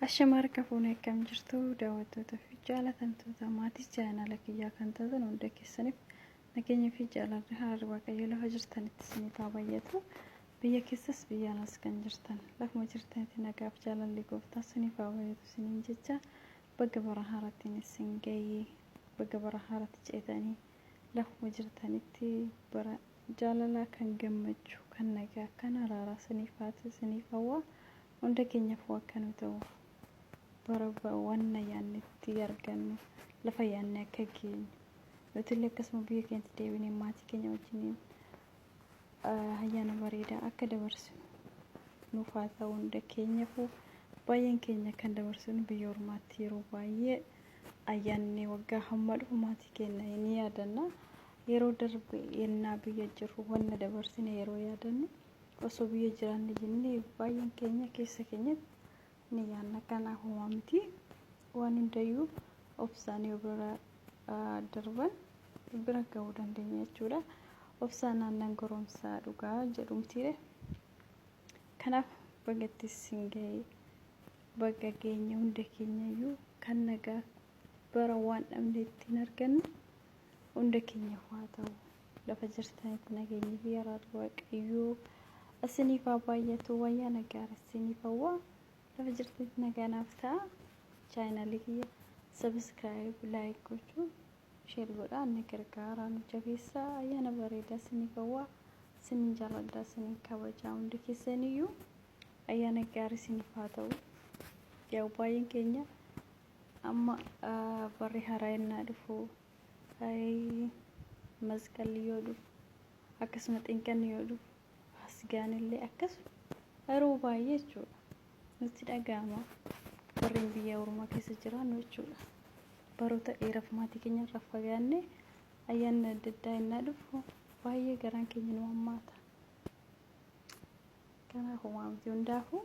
Ashama harka fuune akkam jirtu daawwattoota fi jaalatamtoota maatii chaayinaala kiyyaa kan taatan hunda keessaniif nageenya fi jaalalli haaraa waaqayyo lafa jirtanitti isiniif haa baay'atu biyya keessas biyya alas kan jirtan lafuma jirtanitti nagaaf jaalalli gooftaa isiniif haa baay'atu isiniin jecha baga bara haaraattiin isin ga'ee baga bara haaraatti ceetanii Lafuma jirtanitti bara jaalalaa kan gammachuu kan nagaa kan araaraa siniif haatu siniif hawwaa hunda keenyafuu akka nu ta'u bara wanna yaanne itti argannu lafa yaanne akka geenyu nutillee akkasuma biyya keenyatti deebinee maatii keenya wajjiniin ayyaana bareedaa akka dabarsinu nuuf haa ta'u hunda keenyafuu baay'een keenya kan dabarsinu biyya ormaatti yeroo baay'ee Ayyaanni waggaa hamma dhufu maatii keenya ni yaadanna. Yeroo darbe yennaa biyya jirru wanna dabarsine yeroo yaadannu osoo biyya jiraanne jennee baay'een keenya keessa keenyatti ni yaadna. Kanaaf homaa miti. Waan hundayyuu obsaan yoo bira ah, darban bira ga'uu dandeenya jechuudha. Obsaan aannan goromsaa dhugaa jedhumtiire. Kanaaf bagattis sin ga'e Baga geenye hunda keenyayyuu kan nagaa bara waan dhabne ittiin argannu hunda keenyaaf haa ta'u lafa jirtanitti nageenyi fi araarri waaqayyoo isiniif haa baay'atu wayyaa nagaa isiniif hawwaa lafa jirtanitti nagaa naaf ta'a chaayinaalii kiyya sabiskiraayib laayik gochuu sheer godhaa na gargaaraa nu jabeessaa ayyaana bareedaa isiniif hawwaa isinin jaalladha isinin kabajaa hundi keessaniyyuu Ayyaana gaarii isiniif haa ta'u. Yaa baay'een keenya amma ah, barri haaraa ennaa dhufu ayii, masqalli yoo dhufu akkasuma xinqanni yoo dhufu asgaan illee akkasuma yeroo baay'ee jechuudha nutti dhaga'ama warreen biyya ormaa keessa jiraannu jechuudha baroota dheeraaf maatii keenya irraa fagaanne ayyaanni adda addaa ennaa dhufu baay'ee garaan keenya nu hammaata. Kanaafuu waamti hundaafuu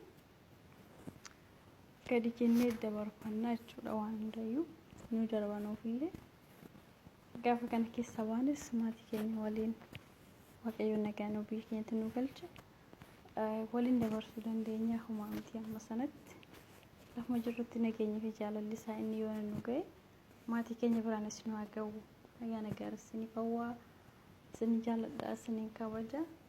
gadi jennee dabarfannaa jechuudha waan hundayyuu nu darbanuufillee gaafa kana keessa baanes maatii keenya waliin waaqayyoon nagaa nu biyya keenyatti nu galche waliin dabarsuu dandeenya humaa miti amma sanatti lafuma jirrutti nageenyi fi jaalalli isaa inni yoo nu ga'e maatii keenya biraan isin haa ga'u ayyaana gaarii isinii qawwaa isin jaalladha isiniin kabaja